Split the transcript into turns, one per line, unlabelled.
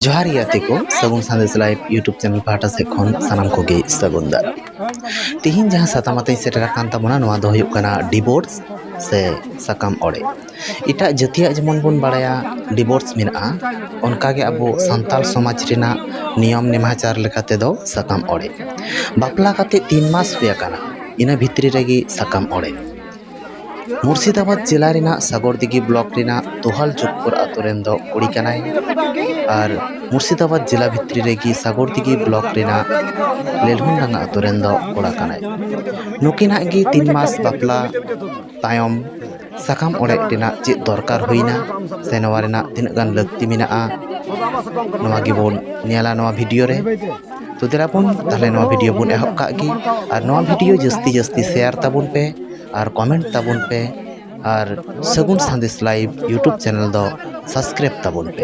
ᱡᱚᱦᱟᱨ ᱜᱮ ᱜᱟᱛᱮ ᱠᱚ Sagun Sandesh live YouTube channel ᱯᱟᱦᱴᱟ ᱥᱮᱫ ᱠᱷᱚᱱ ᱥᱟᱱᱟᱢ ᱠᱚᱜᱮ ᱥᱟᱹᱜᱩᱱ ᱫᱟᱨ ᱛᱤᱦᱤᱧ ᱡᱟᱦᱟᱸ ᱥᱟᱛᱟᱢ ᱟᱛᱮᱧ ᱥᱮᱴᱮᱨ ᱟᱠᱟᱱ ᱛᱟᱵᱚᱱᱟ ᱱᱚᱣᱟ ᱫᱚ ᱦᱩᱭᱩᱜ ᱠᱟᱱᱟ ᱰᱤᱵᱳᱨᱥ ᱥᱮ ᱥᱟᱠᱟᱢ ᱚᱲᱮᱡ ᱮᱴᱟᱜ ᱡᱟᱹᱛᱤᱭᱟᱜ ᱡᱮᱢᱚᱱ ᱵᱚᱱ ᱵᱟᱲᱟᱭᱟ ᱰᱤᱵᱳᱨᱥ ᱢᱮᱱᱟᱜᱼᱟ ᱚᱱᱠᱟ ᱜᱮ ᱟᱵᱚ ᱥᱟᱱᱛᱟᱲ ᱥᱚᱢᱟᱡᱽ ᱨᱮᱱᱟᱜ ᱱᱤᱭᱚᱢ ᱱᱮᱢᱟᱪᱟᱨ ᱞᱮᱠᱟ ᱛᱮᱫᱚ ᱥᱟᱠᱟᱢ ᱚᱲᱮᱡ ᱵᱟᱯᱞᱟ ᱠᱟᱛᱮᱫ ᱛᱤᱱ ᱢᱟᱥ ᱦᱩᱭ ᱟᱠᱟᱱᱟ ᱤᱱᱟᱹ ᱵᱷᱤᱛᱨᱤ ᱨᱮᱜᱮ ᱥᱟᱠᱟᱢ ᱚᱲᱮᱡ ᱢᱩᱨᱥᱤᱫᱟᱵᱟᱫᱽ ᱡᱮᱞᱟ ᱨᱮᱱᱟᱜ ᱥᱟᱜᱚᱨᱫᱤᱜᱷᱤ ᱵᱞᱚᱠ ᱨᱮᱱᱟᱜ ᱫᱚᱦᱟᱞ ᱪᱚᱠᱠᱚᱨ ᱟᱹᱛᱩ ᱨᱮᱱ ᱫᱚ ᱠᱩᱲᱤ ᱠᱟᱱᱟᱭ ᱟᱨ ᱢᱩᱨᱥᱤᱫᱟᱵᱟᱫᱽ ᱡᱮᱞᱟ ᱵᱷᱤᱛᱨᱤ ᱨᱮᱜᱮ ᱥᱟᱜᱚᱨᱫᱤᱜᱷᱤ ᱵᱞᱚᱠ ᱨᱮᱱᱟᱜ ᱞᱮᱞᱦᱩᱱᱰᱟᱸᱜᱟ ᱟᱹᱛᱩ ᱨᱮᱱ ᱫᱚ ᱠᱚᱲᱟ ᱠᱟᱱᱟᱭ ᱱᱩᱠᱤᱱᱟᱜ ᱜᱮ ᱛᱤᱱ ᱢᱟᱥ ᱵᱟᱯᱞᱟ ᱛᱟᱭᱚᱢ ᱥᱟᱠᱟᱢ ᱚᱲᱮᱡ ᱨᱮᱱᱟᱜ ᱪᱮᱫ ᱫᱚᱨᱠᱟᱨ ᱦᱩᱭᱮᱱᱟ ᱥᱮ ᱱᱚᱣᱟ ᱨᱮᱱᱟᱜ ᱛᱤᱱᱟᱹᱜ ᱜᱟᱱ ᱞᱟᱹᱠᱛᱤ ᱢᱮᱱᱟᱜᱼᱟ ᱱᱚᱣᱟ ᱜᱮᱵᱚᱱ ᱧᱮᱞᱟ ᱱᱚᱣᱟ ᱵᱷᱤᱰᱤᱭᱳ ᱨᱮ ᱛᱚ ᱫᱮᱞᱟ ᱵᱚᱱ ᱛᱟᱦᱚᱞᱮ ᱱᱚᱣᱟ ᱵᱷᱤᱰᱤᱭᱳ ᱵᱚᱱ ᱮᱦᱚᱵ ᱠᱟᱜ ᱜᱮ ᱟᱨ ᱱᱚᱣᱟ ᱵᱷᱤᱰᱤᱭᱳ ᱡᱟᱹᱥᱛᱤ ᱡᱟᱹᱥᱛᱤ ᱥᱮᱭᱟᱨ ᱛᱟᱵᱚᱱ ᱯᱮ ᱟᱨ ᱠᱚᱢᱮᱱᱴ ᱛᱟᱵᱚᱱ ᱯᱮ ᱟᱨ Sagun Sandesh live YouTube channel ᱫᱚ ᱥᱟᱵᱥᱠᱨᱟᱭᱤᱵᱽ ᱛᱟᱵᱚᱱ ᱯᱮ